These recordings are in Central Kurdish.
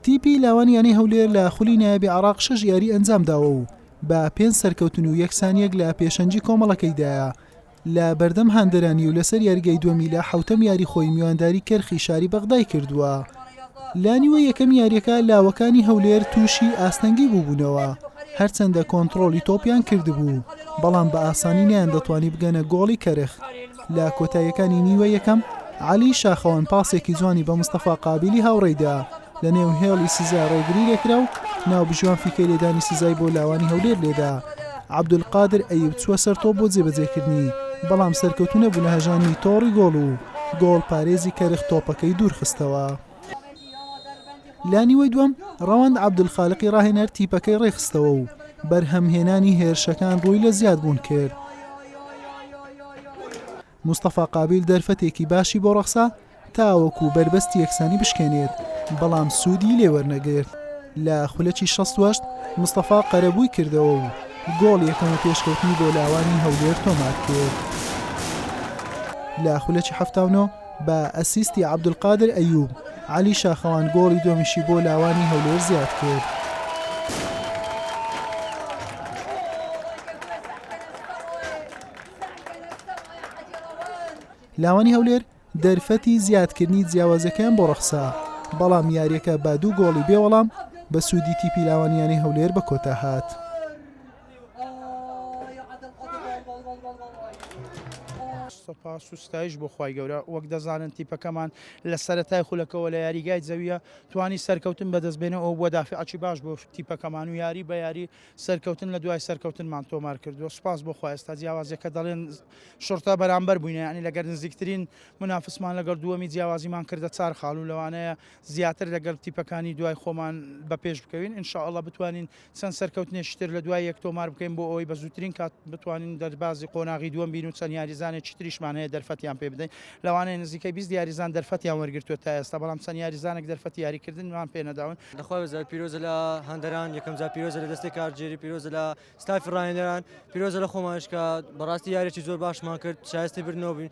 تیپی لاوان یانەی هەولێر لە خولی نایابی عراق شەش یاری ئەنجامداوە و بە پێنج سەرکەوتن و یەکسانیەک لە پێشەنجی کۆمەڵەکەیدایە لە بەردەم هەندەرانی و لەسەر یاریگای دووەمی لە حوتەم یاری خۆی میوانداری کەرخی شاری بەغدای کردووە لانیوە یەکەم یاریەکە لاوەکانی هەولێر تووشی ئاستەنگی بووبوونەوە هەرچەندە کۆنتترۆلی تۆپیان کردبوو بەڵام بە ئاسانی نیان دەتوانی بگەنە گۆڵی کەرخ لە کۆتاییەکانی نیوەی یەکەم، عەلی شاخەوان پاسێکی جوانی بە مستەفا قابیلی هاوڕێی دا، لەنێو هێڵی سزا رێگری لێکرا و ناوبژیوان فیکەی لێدانی سزای بۆ لاوانی هەولێر لێدا. عەبدولقادر ئەیوب چووە سەر تۆپ بۆ جێبەجێکردنی، بەڵام سەرکەوتوو نەبوو لە هەژاندنی تۆڕی گۆڵ و گۆڵپارێزی کەرخ تۆپەکەی دوورخستەوە. لە نیوەی دووەم ڕەوەند عەبدولخالقی ڕاهێنەر تیپەکەی ڕێکخستەوە و بەرهەمهێنانی هێرشەکان ڕووی لە زیادبوون کرد. مستەفا قابیل دەرفەتێکی باشی بۆ ڕەخسا تاوەکو بەربەستی یەکسانی بشکێنێت بەڵام سوودی لێ وەرنەگرت لە خولەکی 68 مستەفا قەرەبووی کردەوە و گۆڵ یەکەمە پێشکەوتنی بۆ لاوانی هەولێر تۆمار کرد لە خولەکی 79 بە ئەسیستی عەبدولقادر ئەیوب، عەلی شاخەوان گۆڵی دووەمیشی بۆ لاوانی هەولێر زیادکرد. لاوانی هەولێر دەرفەتی زیادکردنی جیاوازیەکەیان بۆ ڕەخسا، بەڵام یاریەکە بە دوو گۆڵی بێ وەڵام بە سوودی تیپی لاوانییانی هەولێر بە کۆتا هات. سوپاس و ستایش بۆ خوای گەورە وەک دەزانن تیپەکەمان لە سەرەتای خولەکەەوە لە یاریگای زەویە توانی سەرکەوتن بەدەست بێنە ئەو بووە دافعچی باش بۆ تیپەکەمان و یاری بە یاری سەرکەوتن لە دوای سەرکەوتنمان تۆمار کردووە سوپاس بۆ خواستا جیاوازەکە دەڵێن شرتە بەرامبەر بووینە ینی لەگەر نزیکترین منافسمان لەگەڵ دووەمی جیاوازیمان کردە چار خاڵ و لەوانەیە زیاتر لەگەڵ تیپەکانی دوای خۆمان بە پێش بکەوین انشاءله بتوانین چەند سەرکەوتنێکی تر لە دوای یەک تۆمار بکەین بۆ ئەوەی بە زووترین کات بتوانین دەربازی قۆناغی دووەم بین و چەند یاریزانێکی تریشمان هەیە دەرفەتیان پێ بدەین، لەوانەیە نزیکەی بیست یاریزان دەرفەتیان وەرگرتووە تا ئێستا، بەڵام چەند یاریزانێک دەرفەتی یاریکردنمان پێ نەداون. لە خوا بێزار پیرۆزە لە هاندەران یەکەم جار پیرۆزە لە دەستەی کارگێری پیرۆزە لە ستافی ڕاهێنەران پیرۆزە لە خۆمانش کە بەڕاستی یاریێکی زۆر باشمان کرد شایستی بردنەوە بووین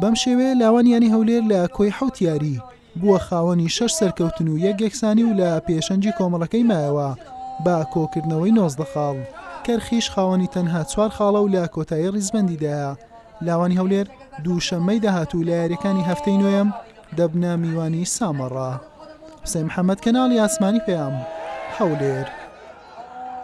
بەم شێوەیە لاوان یانی هەولێر لە کۆی حەوت یاری بووە خاوەنی شەش سەرکەوتن و یەک یەکسانی و لە پێشەنگی کۆمەڵەکەی مایەوە بە کۆکردنەوەی نۆزدە خاڵ کەرخیش خاوەنی تەنها چوار خاڵە و لە کۆتایی ڕیزبەندیدایە لاوانی هەولێر دووشەممەی داهاتوو لە یاریەکانی هەفتەی نوێم دەبنە میوانی سامەڕا حسێن محەممەد کەناڵی ئاسمانی پەیام هەولێر.